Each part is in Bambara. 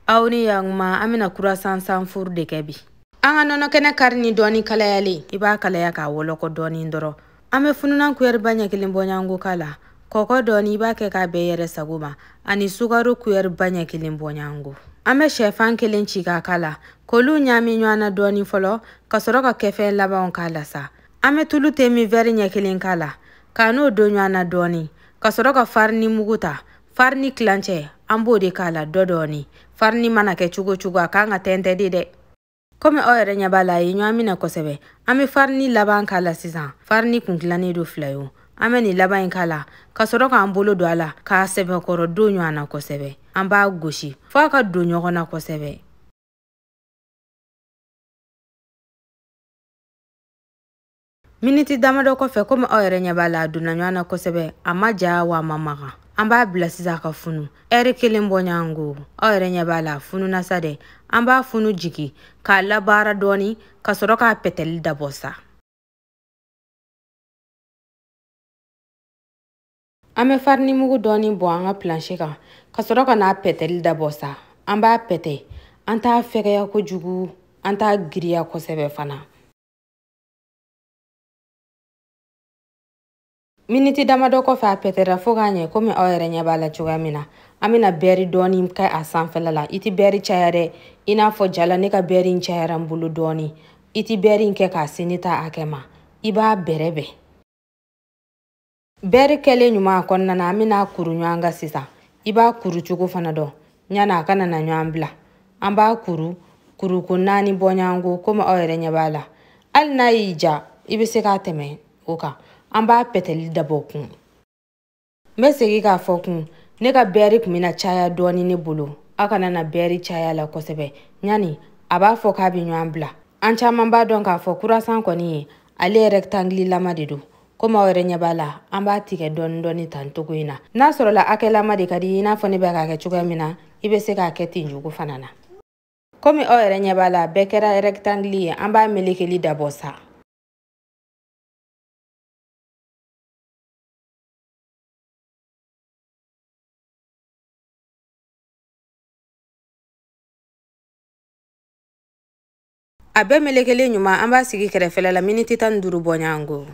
aw ni yaguma an bɛna kurasan sanfuru de kɛ bi an ka nɔnɔkɛnɛ kari ni dɔɔni kalayalen i b'a kalaya k'a wɔlɔkɔ dɔɔni dɔrɔn an bɛ fununan kuyɛriba ɲɛ kelen bɔɲanko k'a la kɔkɔ dɔɔni i b'a kɛ k'a bɛn i yɛrɛ sago ma ani sukaro kuyɛriba ɲɛ kelen bɔɲanko an bɛ shɛfan kelen ci k'a k'a la k'olu ɲaami ɲɔgɔn na dɔɔni fɔlɔ ka sɔrɔ ka kɛfɛn labanw k'a la sa an bɛ tulu temin wɛri ɲɛ kelen k'a la k'a n'o don ɲɔgɔn na dɔɔni ka sɔrɔ ka farini mugu ta farini tilancɛ an b'o de k'a la dɔ dɔɔni farini mana kɛ cogo cogo a kan ka tɛntɛn de dɛ komi aw yɛrɛ ɲɛ b'a la a ye ɲɔgɔn minɛ kosɛbɛ an bɛ farini laban k'a la sisan farini kun tilannen don fila ye an bɛ nin laban in k'a la ka sɔrɔ k'an bolo don a la k'a sɛbɛkɔrɔ don ɲɔgɔn na kosɛbɛ an b'a gosi fɔ a ka don ɲɔgɔn na kosɛbɛ miniti damadɔ kɔfɛ komi aw yɛrɛ ɲɛ b'a la a donna ɲɔgɔn na kosɛbɛ a ma ja wa a ma maga an b'a bila sisan ka funu ɛri kelen bɔ ɲɔgɔn ko aw yɛrɛ ɲɛ b'a la a fununa sa dɛ an b'a funu jigi k'a labaara dɔɔni ka sɔrɔ k'a pɛtɛli dabɔ sa an bɛ farini mugu dɔɔni bɔn an ka planche kan ka sɔrɔ ka n'a pɛtɛli dabɔ sa an b'a pɛtɛ an t'a fɛgɛya kojugu an t'a giriya kosɛbɛ fana miniti damadɔ kɔfɛ a pɛtɛra fo ka ɲɛ komi aw yɛrɛ ɲɛ b'a la cogoya min na an bɛna bɛɛri dɔɔni kɛ a sanfɛla la i tɛ bɛɛri caya dɛ i n'a fɔ ja la ne ka bɛɛri in cayara n bolo dɔɔni i tɛ bɛɛri in kɛ k'a se ne ta hakɛ ma i b'a bɛrɛbɛn bɛri kɛlen ɲuman a kɔnɔna na an bɛn'a kuru ɲɔgɔn kan sisan i b'a kuru cogo fana dɔn yanni a kana na ɲɔgɔn bila an b'a kuru kuruko naani bɔ ɲɔgɔn ko komi aw yɛrɛ ɲɛ b'a la hali n'a y'i diya i bɛ se k'a tɛmɛ o kan an b'a pɛtɛli dabɔ kun n bɛ segin k'a fɔ kun ne ka bɛri tun bɛna caya dɔɔni ne bolo aw kana na bɛri cay'a la kosɛbɛ yanni a b'a fɔ k'a bɛ ɲɔgɔn bila an caman b'a dɔn k'a fɔ kurasan kɔni ye ale rɛkitangililama de don komi aw yɛrɛ ɲɛ b'a la an b'a tigɛ dɔɔni dɔɔni tan cogo in na n'a sɔrɔla hakɛlama de ka di i n'a fɔ ne bɛ k'a kɛ cogoya min na i bɛ se k'a kɛ ten cogo fana na komi aw yɛrɛ ɲɛ b'a la bɛɛ kɛra rɛkitangili ye an b'a melekeli dabɔ sa a bɛɛ melekelen ɲuman an b'a sigi kɛrɛfɛla la miniti tan ni duuru bɔɲango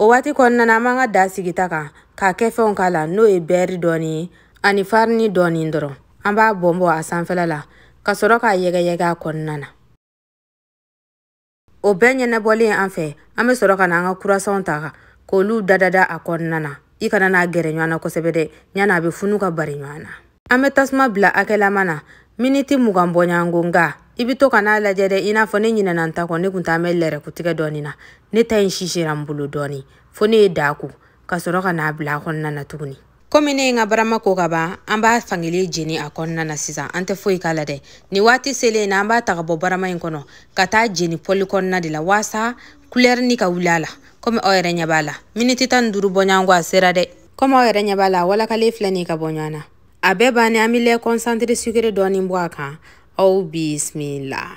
o waati kɔnɔna na an b'an ka daa sigi ta kan ka kɛfɛnw k'a la n'o ye bɛɛri dɔɔni ye ani farini dɔɔni dɔrɔn an b'a bɔnbɔn a sanfɛla la ka sɔrɔ k'a yɛgɛyɛgɛ a kɔnɔna na o bɛɛ ɲɛnabɔlen an fɛ an bɛ sɔrɔ ka na an ka kurasanw ta k'olu dadada a kɔnɔna na i kana n'a gɛrɛ ɲɔgɔn na kosɛbɛ dɛ yanni a bɛ funu ka bari ɲɔgɔn na an bɛ tasuma bila hakɛlama na miniti mugan bɔɲɔgɔnko nga i bɛ to ka n'a lajɛ dɛ i n'a fɔ ne ɲinɛna n ta kɔ ne kun taa bɛ lɛrɛkutigɛ dɔɔni na ne ta in sisira n bolo dɔɔni fo ne ye daa ko ka sɔrɔ ka n'a bila a kɔnɔna na tuguni komi ne ye n ka barama ko ka ban an b'a fan kelen jeni a kɔnɔna na sisan an tɛ foyi k'a la dɛ nin waati selen na an b'a ta ka bɔ barama in kɔnɔ ka t'a jeni pɔli kɔnɔna de la waasa kulɛri nin ka wuli a la komi aw yɛrɛ ɲɛ b'a la miniti tan ni duuru bɔɲɔgɔnko a sera dɛ kɔmi aw yɛrɛ ɲɛ b'a la walakalen filɛ nin ka bɔ ɲɔgɔn na a bɛɛ bannen an bɛ lɛ kɔnsantere sukere dɔɔnin bɔn a kan aw bisimila